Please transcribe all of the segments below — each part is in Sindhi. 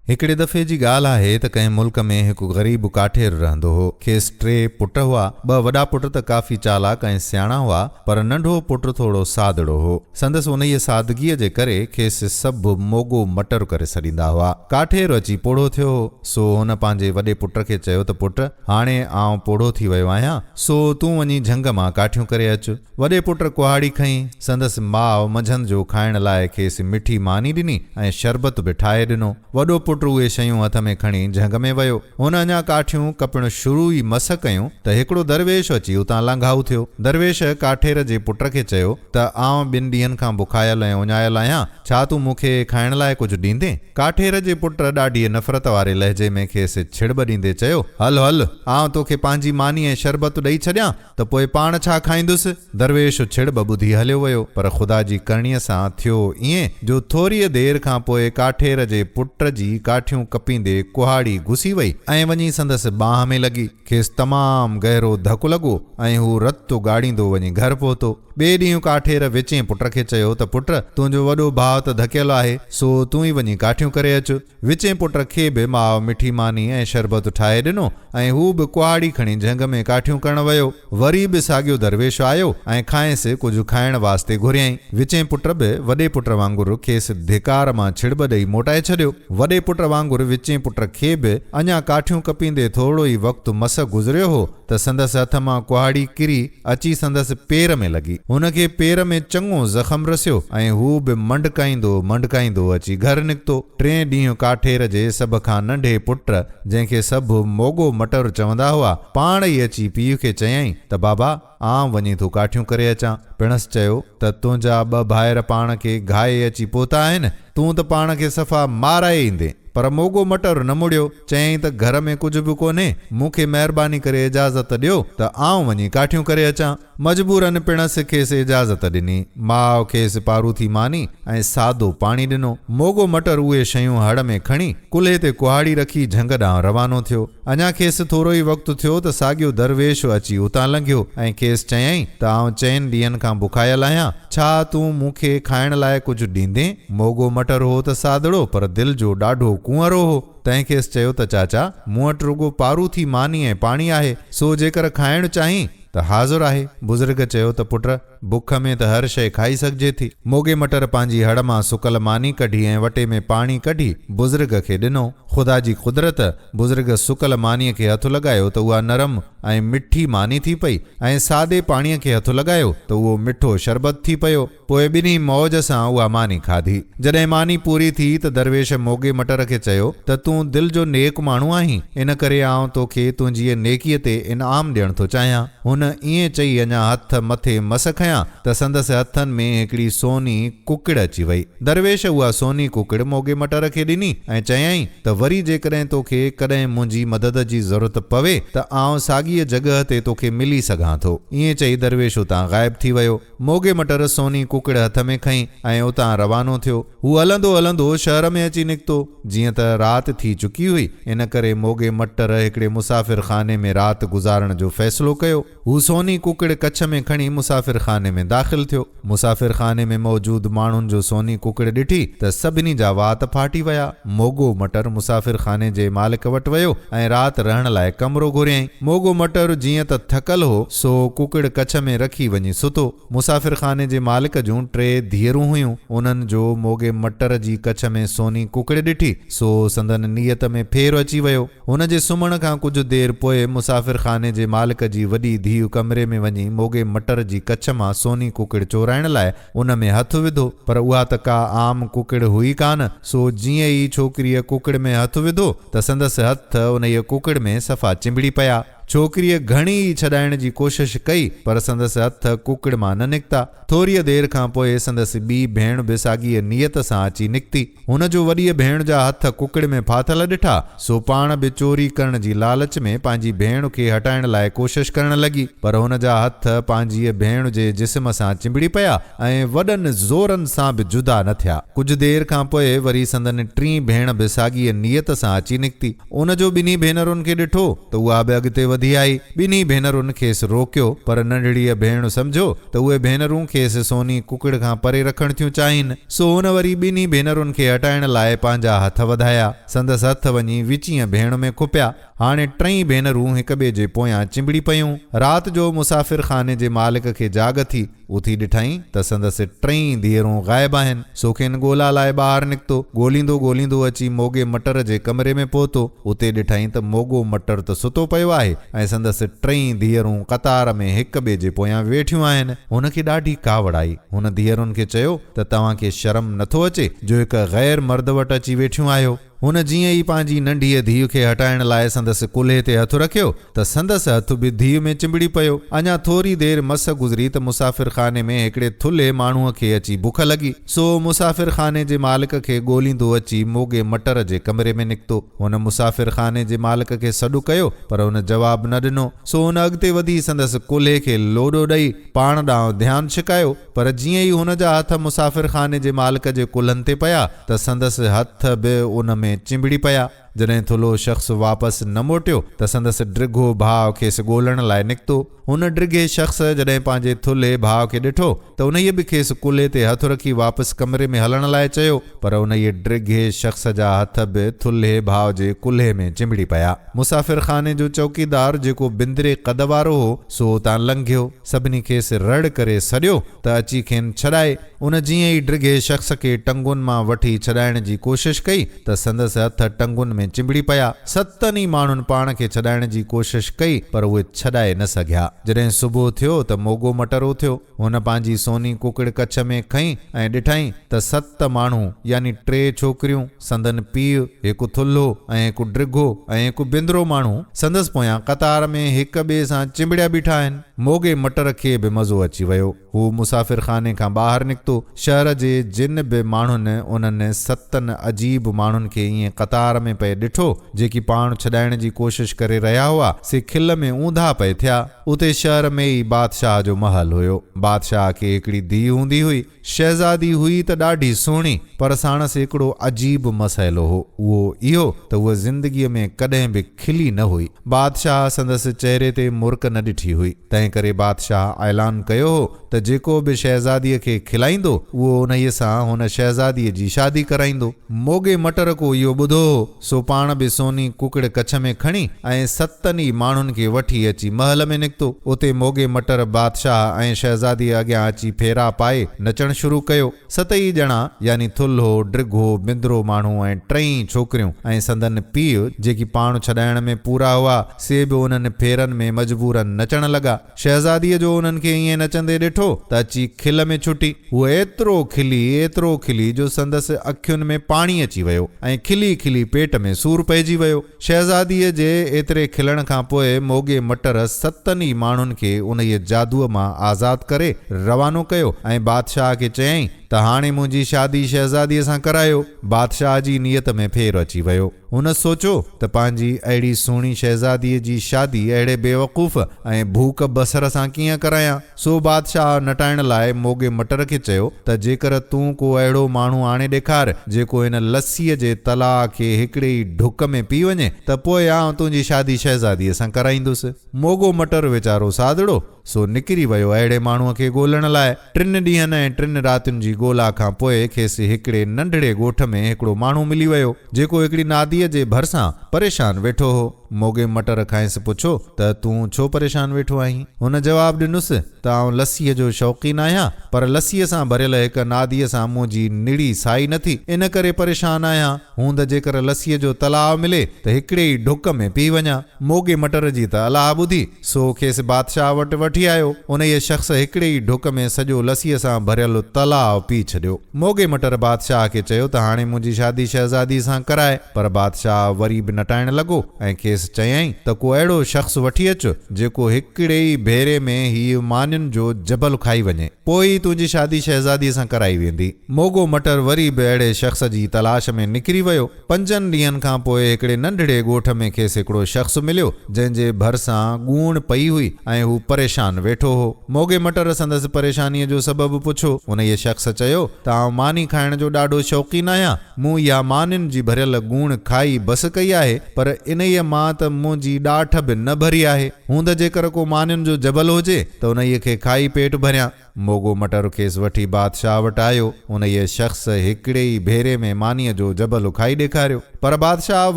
هڪڙي دفعي جي ڳالهه آهي ته ڪنهن ملڪ ۾ هڪ غريب ڪاٺير رهندو هو. کيس ٽي پٽ هئا. ٻه وڏا پٽ ته ڪافي چالاڪ ۽ سياڻا هئا، پر ننڍو پٽ ٿورو سادڙو هو. سندس انهيء سادگيء جي ڪري کيس سڀ موڳو مٽر ڪري سڏيندا هئا. ڪاٺير اچي پوڙهو ٿيو هو، سو هن پنهنجي وڏي پٽ کي چيو ته پٽ، هاڻي آئون پوڙهو ٿي ويو آهيان، سو تون وڃي جهنگ مان ڪاٺيون ڪري اچ. وڏي پٽ ڪهاڙي کنئي، سندس ماء منجهند جو کائڻ لاء کيس مٺي ماني ڏني ۽ شربت به ٺاهي ڏنو. وڏو پٽ اهي شيون هٿ ۾ کڻي جهنگ ۾ ويو. هن اڃا ڪاٺيون ڪپڻ شروع ئي مس ڪيون ته هڪڙو درويش اچي اتان لانگهائو ٿيو. درويش ڪاٺير جي پٽ کي چيو ته آئون ٻن ڏينهن کان بکايل ۽ اڃايل آهيان، ڇا تون مون کي کائڻ لاء ڪجهه ڏيندين؟ ڪاٺير جي پٽ ڏاڍيء نفرت واري لهجي ۾ کيس ڇڙٻ ڏيندي چيو، هل هل، آئون توکي پنهنجي ماني ۽ شربت ڏئي ڇڏيان، ته پوء پاڻ ڇا کائيندس؟ درويش ڇڙ به ٻڌي هليو ويو، پر خدا جي ڪرڻيء سان ٿيو ائين جو ٿوريء دير کان پوء ڪاٺير جي پٽ جي ڪاٺيون ڪپيندي ڪهاڙي گسي وئي ۽ وڃي سندس ٻانهن ۾ لڳي. کيس تمام گهرو ڌڪ لڳو ۽ هو رت اوڳاڙيندو وڃي گهر پهتو. ٻئي ڏينهن ڪاٺير ويچين پٽ کي چيو ته پٽ تنهنجو وڏو ڀاء ته ڌڪيل آهي، سو تون ئي وڃي ڪاٺيون ڪري اچ. وچين پٽ کي به ماء مٺي ماني ۽ شربت ٺاهي ڏنو ۽ هو به ڪهاڙي کڻي جهنگ ۾ ڪاٺيون ڪرڻ ويو. وري به ساڳيو درويش آيو ۽ کانئس ڪجهه کائڻ واسطي گهريائين. وچين پٽ به وڏي پٽ وانگر کيس ڌڪار مان ڇڙٻ ڏئي موٽائي ڇڏيو. وڏي پٽ وانگر وچين پٽ کي به اڃا ڪاٺيون ڪپيندي ٿورڙو ئي وقت مس گذريو هو، ته سندس هٿ مان ڪهاڙي ڪري اچي سندس پير ۾ لڳي. هن کي پير ۾ چڱو زخم رسيو ۽ هو به منڊڪائيندو منڊڪائيندو اچي گهر نڪتو. ٽئين ڏينهن ڪاٺير جي سڀ کان ننڍي پٽ، جنهن کي سڀ موڳو مٽر چوندا هئا، پاڻ ئي اچي پيء کي چيائين ته بابا، آئون وڃي ٿو ڪاٺيون ڪري اچان. پڻس چيو ته تنهنجا ٻه ڀائر پاڻ کي گهائي اچي پهتا آهن، تون ته پاڻ کي صفا مارائي ايندين. پر موڳو مٽر نه مڙيو. چيائين ته گهر ۾ ڪجهه به ڪونهي، مون کي مهرباني ڪري اجازت ڏيو ته آئون وڃي ڪاٺيون ڪري اچان. مجبوراً پڻس کيس اجازت ڏني. ماء کيس پاروٿي ماني ۽ سادو پاڻي ڏنو. موڳو مٽر اهي شيون هڙ ۾ کڻي، ڪلهي تي ڪهاڙي رکي جهنگ ڏانهن روانو ٿيو. اڃا کيس ٿورو ئي وقت ٿيو ته ساڳيو درويش اچي اتان لنگهيو ۽ کيس چيائين ته آئون چئن ڏينهن کان بکايل آهيان، ڇا تون مون کي کائڻ لاء ڪجهه ڏيندين؟ موڳو مٽر هو ته سادڙو پر دل جو ڏاڍو ڪنئرو هو. تنهن کيس چيو ته چاچا، مون وٽ رڳو پاروٿي ماني ۽ پاڻي آهي، سو جيڪر کائڻ چاهين ته حاضر آهي. بزرگ چيو ته پٽ، بک ۾ ته هر شيء کائي سگهجي ٿي. موڳي مٽر پنهنجي هڙ مان سڪل ماني ڪڍي ۽ وٽي ۾ پاڻي ڪڍي بزرگ کي ڏنو. خدا جي قدرت، بزرگ سڪل مانيء کي هٿ لڳايو ته اها نرم ۽ مٺي ماني ٿي پئي ۽ سادي پاڻيء کي هٿ لڳايو ته اهو مٺو شربت ٿي پيو. پوء ٻنهي موج سان اها ماني کاڌي. جڏهن ماني پوري ٿي ته درويش موڳي مٽر کي چيو ته تون دل جو نيڪ ماڻهو آهين، ان ڪري آئون تو کي تنهنجيء نيڪيء تي انعام ڏيڻ ٿو چاهيان. هن ائين چئي اڃا هٿ مٿي مس کنيا ته سندس هٿن ۾ هڪڙي سوني ڪڪڙ اچي وئي. درويش اها سوني ڪڪڙ موڳي مٽر کي ڏني ۽ چيائين ته وري جيڪڏهن تو کي ڪڏهن منهنجي مدد جي ضرورت پوي ته آئون ساڳيء جڳهه تي تو کي ملي سگهان ٿو. ائين چئي درويش اتان غائب ٿي ويو. موڳي مٽر سوني ڪوڪڙ هٿ ۾ کنئي ۽ اتان روانو ٿيو. هو هلندو هلندو شهر ۾ اچي نڪتو. جيئن ته رات ٿي چڪي هئي، ان ڪري موڳي مٽر هڪڙي مسافر خاني ۾ رات گذارڻ جو فيصلو ڪيو. هو سوني ڪوڪڙ ڪڇ ۾ کڻي مسافر خاني ۾ داخل ٿيو. مسافر خاني ۾ موجود ماڻهن جو سوني ڪوڪڙ ڏٺي ته سڀني جا وات ڦاٽي ويا. موڳو مٽر مسافر خاني جي مالڪ وٽ ويو ۽ رات رهڻ لاء ڪمرو گهريائين. موڳو مٽر جيئن ته ٿڪل هو، سو ڪڪڙ ڪڇ ۾ رکي وڃي ستو. مسافر خاني جي مالڪ جون ٽي ڌيئرون هيون. انهن جو موڳي مٽر جي ڪڇ ۾ سوني ڪڪڙ ڏٺي، سو سندن نيت ۾ ڦير اچي ويو. هن جي سمهڻ کان ڪجهه دير پوء مسافر خاني جي مالڪ جي وڏي ڌيء ڪمري ۾ وڃي موڳي مٽر جي ڪڇ مان سوني ڪڪڙ چورائڻ لاء ان ۾ هٿ وڌو، پر اها ته ڪا عام ڪڪڙ هئي ڪانه، سو جيئن ئي ڇوڪريء ڪڪڙ ۾ هٿ وڌو ته سندس هٿ انهيء ڪڪڙ ۾ صفا چنبڙي پيا. ڇوڪريء گهڻي ئي ڇڏائڻ جي ڪوشش ڪئي، پر سندس هٿ ڪوڪڙ مان نه نڪتا. ٿوريء دير کان پوء سندس ٻي ڀيڻ به ساڳيء نيت سان اچي نڪتي. هن جو وڏيء ڀيڻ جا هٿ ڪوڪڙ ۾ ڦاٿل ڏٺا، سو پاڻ به چوري ڪرڻ جي لالچ ۾ پنهنجي ڀيڻ کي هٽائڻ لاء ڪوشش ڪرڻ لڳي، پر هن جا هٿ پنهنجيء ڀيڻ جي جسم سان چنبڙي پيا ۽ وڏن زورن سان به جدا نه ٿيا. ڪجهه دير کان پوء وري سندن ٽين ڀيڻ به ساڳيء نيت سان اچي نڪتي. ان جو ٻنهي ڀينرن کي ڏٺو ته اها به اڳتي وڌي آئي. ٻنهي ڀينرن کيس روڪيو، پر ننڍڙيء ڀيڻ سمجهيو ته اهي ڀينرون کيس سوني ڪڪڙ کان پري رکڻ ٿيون چاهين، سو هن وري ٻنهي ڀينرن کي هٽائڻ لاء پنهنجا هٿ وڌايا. سندس هٿ وڃي وچينء ڀيڻ ۾ کپيا. هاڻي ٽئي ڀينرون هڪٻئي جي پويان چنبڙي پيون. رات جو مسافر خاني جي مالڪ کي جاڳ ٿي. اٿي ڏٺائين ته سندس ٽئي ڌيئرون غائب آهن، سو کين ڳولا لاء ٻاهر نڪتو. ڳوليندو ڳوليندو اچي موڳي مٽر جي ڪمري ۾ پهتو. اتي ڏٺائين ته موڳو مٽر ته ستو پيو آهي ۽ سندس ٽئي ڌيئرون قطار ۾ هڪ ٻئي جي پويان ويٺيون آهن. هن کي ڏاڍي ڪاوڙ آئي. هن ڌيئرن کي چيو ته توهان کي شرم نٿو اچي جو هڪ غير مرد وٽ اچي ويٺيون آهيو. هن جيئن ئي پنهنجي ننڍيء ڌيء کي هٽائڻ لاء سندس ڪلهي تي هٿ رکيو ته سندس هٿ به ڌيء ۾ چنبڙي پيو. اڃا ٿوري دير مس گذري ته مسافر خاني ۾ هڪڙي ٿلهي ماڻهوء کي اچي بک لڳي، سو مسافر خاني جي مالڪ کي ڳوليندو اچي موڳي مٽر جي ڪمري ۾ نڪتو. هن مسافر خاني جي مالڪ کي سڏ ڪيو پر هن جواب نه ڏنو، سو هن اڳتي وڌي سندس ڪلهي کي لوڏو ڏئي پاڻ ڏانهن ڌيان ڇڪايو. پر جيئن ئي هن جا هٿ مسافرخاني جي مالڪ جي ڪلهن تي پيا ته سندس هٿ به ان ۾ چنبڙي پيا. جڏهن ٿلهو شخص واپس نه موٽيو ته سندس ڊگهو ڀاء کيس ڳولڻ لاء نڪتو. هن ڊگهي شخص جڏهن پنهنجي ٿلهي ڀاء کي ڏٺو ته انهيء به کيس ڪلهي تي هٿ رکي واپس ڪمري ۾ هلڻ لاء چيو. پر انهيء ڊگهي شخص جا هٿ به ٿلهي ڀاء جي ڪلهي ۾ چنبڙي پيا. مسافرخاني جو چوڪيدار جيڪو بندري قد وارو هو سو اتان لنگهيو. سڀني کيس رڙ ڪري سڏيو ته اچي کين ڇڏائي. ان جيئن ئي ڊگهي شخص کي ٽنگون مان وٺي ڇڏائڻ جي ڪوشش ڪئي ته سندس هٿ ٽنگون ۾ چنبڙي پيا. ستن ئي ماڻهن پاڻ کي ڇڏائڻ جي ڪوشش ڪئي پر اهي ڇڏائي نه سگهيا. جڏهن صبح ٿيو ته موڳو مٽر اٿيو. هن پنهنجي سوني ڪڪڙ ڪڇ ۾ کنئي ۽ ڏٺائين ته ست ماڻهو يعني ٽي ڇوڪريون، سندن پيء هڪ ٿلهو ۽ هڪ ڊگهو ۽ هڪ بندرو ماڻهو سندس پويان قطار ۾ هڪ ٻئي سان چنبڙيا بيٺا آهن. موڳي مٽر کي به مزو اچي ويو. هو مسافر خاني کان ٻاهر نڪتو. شهر جي جن به ماڻهن انهن ستن عجيب ماڻهن کي ائين قطار ۾ پئي ڏٺو، جيڪي پاڻ ڇڏائڻ جي ڪوشش ڪري رهيا هئا، سي کل ۾ اونڌا پئي ٿيا. اتي شهر ۾ ئي بادشاهه جو محل هيو. بادشاهه کي هڪڙي ڌيء هوندي هئي. شهزادي هئي ته ڏاڍي سهڻي پر ساڻس هڪڙو عجيب مسئلو هو اهو اهو ته هوء زندگيء ۾ ڪڏهن به کلي نه هئي. بادشاهه سندس چهري تي مرڪ نه ڏٺي هئي، تنهنڪري بادشاهه اعلان ڪيو هو ته جيڪو به شهزاديء کي کلائيندو اهو انهيء سان هن شهزاديء جي شادي ڪرائيندو. موڳي مٽر ڪو اهو ٻڌو هو سو پاڻ به سوني ڪڪڙ ڪڇ ۾ کڻي ۽ ستن ئي ماڻهن کي وٺي اچي محل ۾ نڪتو. اتي موڳي مٽر بادشاهه ۽ شهزاديء اڳيان اچي ڦيرا پائي نچڻ شروع ڪيو. ستئي ڄڻا يعني ٿلهو، ڊگهو، بندرو ماڻهو ۽ ٽئي ڇوڪريون ۽ سندن پيء جيڪي پاڻ ڇڏائڻ ۾ پورا هئا سي به انهن ڦيرن ۾ مجبورن نچڻ لڳا. شهزاديء جو انهن کي ائين نچندي ڏٺو ته اچي کل ۾ ڇٽي. هوء ايترو کلي، ايترو کلي جو سندس اکين ۾ پاڻي اچي ويو ۽ کلي کلي پيٽ ۾ سور پئجي ويو. شهزاديء جي ايتري کلڻ کان پوء موڳي مٽر ستن ئي ماڻهن کي انهيء جادوء مان آزاد ڪري روانو ڪيو ۽ بادشاهه کي چيائين ته هاڻي منهنجي شادي شهزاديء سان ڪرايو. بادشاهه جي نيت ۾ ڦير اچي ويو. هن سوچيو ته پنهنجي اهڙي سهڻي شهزاديء جي شادي اهڙي بيوقوف ۽ ڀوڪ بصر سان ڪيئن ڪرايان؟ سو بادشاهه نٽائڻ لاء موڳي مٽر کي چيو ته جيڪر تون ڪو اهڙو ماڻهو آڻي ڏيکار جيڪو هن لسيء جي تلاء کي هڪڙي ئي ڍڪ ۾ پي وڃي ته پوء آئون تنهنجي شادي شهزاديء سان ڪرائيندس. موڳو مٽر ويچارو ساڌڙو، سو نڪري ويو اهڙي ماڻهوء کي ڳولڻ لاء. ٽن ڏينهن ۽ ٽن راتين جي ڳولا کان پوء کيس هڪڙي ننڍڙي ڳوٺ ۾ هڪڙو ماڻهو ملي ويو، جيڪو هڪڙي ناديء جي ڀرسان پريشان ويٺو هو. موڳي مٽر کانئس پڇيو ته تون ڇو پريشان ويٺو آهين؟ هن جواب ڏنس ته آئون لسيء جو شوقين آهيان، پر لسيء سان ڀريل هڪ ناديء سان منهنجي نڙي سائي نه ٿي، ان ڪري پريشان آهيان. هون ته جيڪر لسيء جو تلاء ملي ته هڪڙي ئي ڍڪ ۾ پي وڃان. موڳي مٽر جي ته الاهه ٻڌي سو کيس بادشاهه وٽ وٺي آيو. انهيء شخص هڪڙي ئي ڍڪ ۾ سڄو لسيء سان ڀريل تلاء پي ڇڏيو. موڳي مٽر بادشاهه کي چيو ته هاڻي منهنجي شادي شهزاديء سان ڪرائي. پر بادشاهه وري به نٽائڻ لڳو ۽ کيس چيائين ته ڪو اهڙو شخص وٺي اچ، جيڪو هڪڙي ئي ڀيري ۾ هيء مانين جو جبل کائي وڃي. پوء ئي تنهنجي شادي شهزاديء سان ڪرائي ويندي. موڳو مٽر وري به اهڙي شخص جي تلاش ۾ نڪري ويو. پنجن ڏينهن کان پوء هڪڙي ننڍڙي ڳوٺ ۾ کيس هڪڙو شخص مليو، جنهن جي ڀرسان ڳوڻ پئي هئي ۽ هو پريشان ويٺو هو. موڳي مٽر سندس پريشانيء جو سبب پڇو. انهيء شخص چيو ته آئون ماني کائڻ جو ڏاڍو شوقين آهيان. مون اها مانين جي ڀريل ڳوڻ کائي بس ڪئي آهي، پر انهيء مان ته منهنجي ڏاٺ به نه ڀري آهي. هوند جيڪر ڪو مانين جو جبل هجي ته انهيء کي کائي پيٽ ڀريان. موڳو مٽر کيس وٺي بادشاهه وٽ آيو. انهيء شخص هڪڙي ئي ڀيري ۾ مانيء جو جبل اکائي ڏيکاريو. پر بادشاهه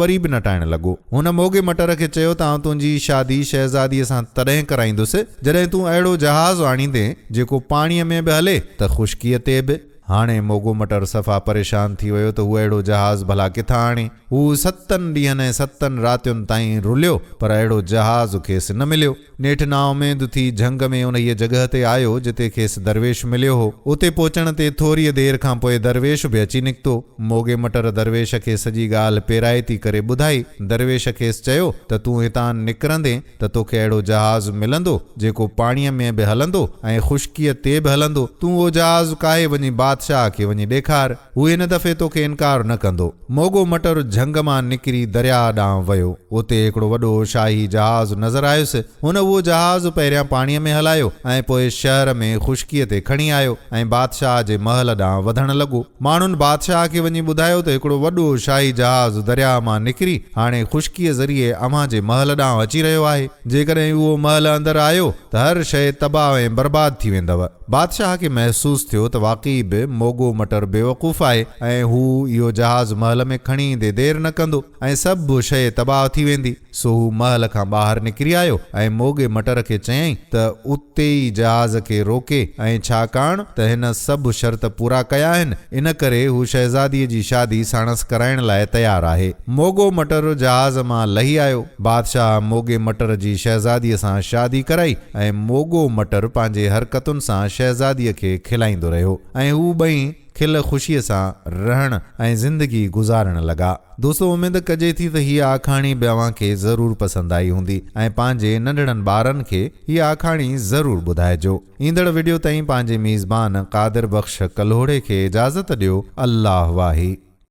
وري به نٽائڻ لڳو. هن موڳي مٽر کي چيو ته آئون تنهنجي شادي شهزاديء سان تڏهن ڪرائيندس، جڏهن تون اهڙو جهاز آڻيندين، جيڪو پاڻيء ۾ به هلي ته خشڪيء تي به. هاڻي موڳو مٽر صفا پريشان ٿي ويو ته هو اهڙو جهاز ڀلا ڪٿان آڻي. هو ستن ڏينهن ۽ ستن راتين تائين رليو پر اهڙو جهاز کيس نه مليو. نيٺ نااميد ٿي جهنگ ۾ انهيء جڳهه تي آيو جتي کيس درويش مليو هو. اتي پهچڻ تي ٿوريء دير کان پوء درويش به اچي نڪتو. موڳي مٽر درويش کي سڄي ڳالهه پيرائتي ڪري ٻڌائي. درويش کيس چيو ته تون هتان نڪرندين، ته توکي اهڙو جهاز ملندو جيڪو پاڻيء ۾ به هلندو ۽ خشڪيء تي به هلندو. تون اهو جهاز ڪاهي وڃي بادشاهه کي وڃي ڏيکار. هو هن دفعي توکي انڪار نه ڪندو. موڳو مٽر جهنگ مان نڪري درياهه ڏانهن ويو. اتي هڪڙو وڏو شاهي جهاز نظر آيس. هن اهو جهاز پهريان پاڻيء ۾ هلايو ۽ پوء شهر ۾ خشڪيء تي کڻي آيو ۽ بادشاهه جي محل ڏانهن وڌڻ لڳو. ماڻهن بادشاهه کي وڃي ٻڌايو ته هڪڙو وڏو شاهي جهاز درياهه مان نڪري هاڻي خشڪيء ذريعي اوهان جي محل ڏانهن اچي رهيو آهي. جيڪڏهن اهو محل اندر آيو ته هر شيء تباهه ۽ برباد ٿي ويندؤ. بادشاهه کي محسوس ٿيو ته واقعي به موڳو مٽر بيوقوف آهي ۽ هو اهو جهاز محل ۾ کڻي ايندي دير نه ڪندو ۽ سڀ شيء تباهه ٿي ويندي. سو هو محل کان ٻاهر نڪري آيو ۽ موڳي مٽر کي چيائين ته اتي ئي جهاز کي روڪي ۽ ڇاڪاڻ ته هن سڀ شرط پورا ڪيا آهن ان ڪري هو شهزاديء جي شادي ساڻس ڪرائڻ لاء تيار آهي. موڳو مٽر جهاز مان لهي آيو. بادشاهه موڳي مٽر جي شهزاديء سان شادي ڪرائي ۽ موڳو مٽر پنهنجي حرڪتن سان شهزاديء کي کلائيندو رهيو ۽ هو ٻئي کل خوشيء سان رهڻ ۽ زندگي گذارڻ لڳا. دوستو اميد ڪجي ٿي ته هيء آکاڻي به اوهان کي ضرور پسند آئي هوندي ۽ پنهنجي ننڍڙن ٻارن کي هيء آکاڻي ضرور ٻڌائجو. ايندڙ وڊيو تائين پنهنجي ميزبان قادر بخش ڪلهوڙي کي اجازت ڏيو الله واهي.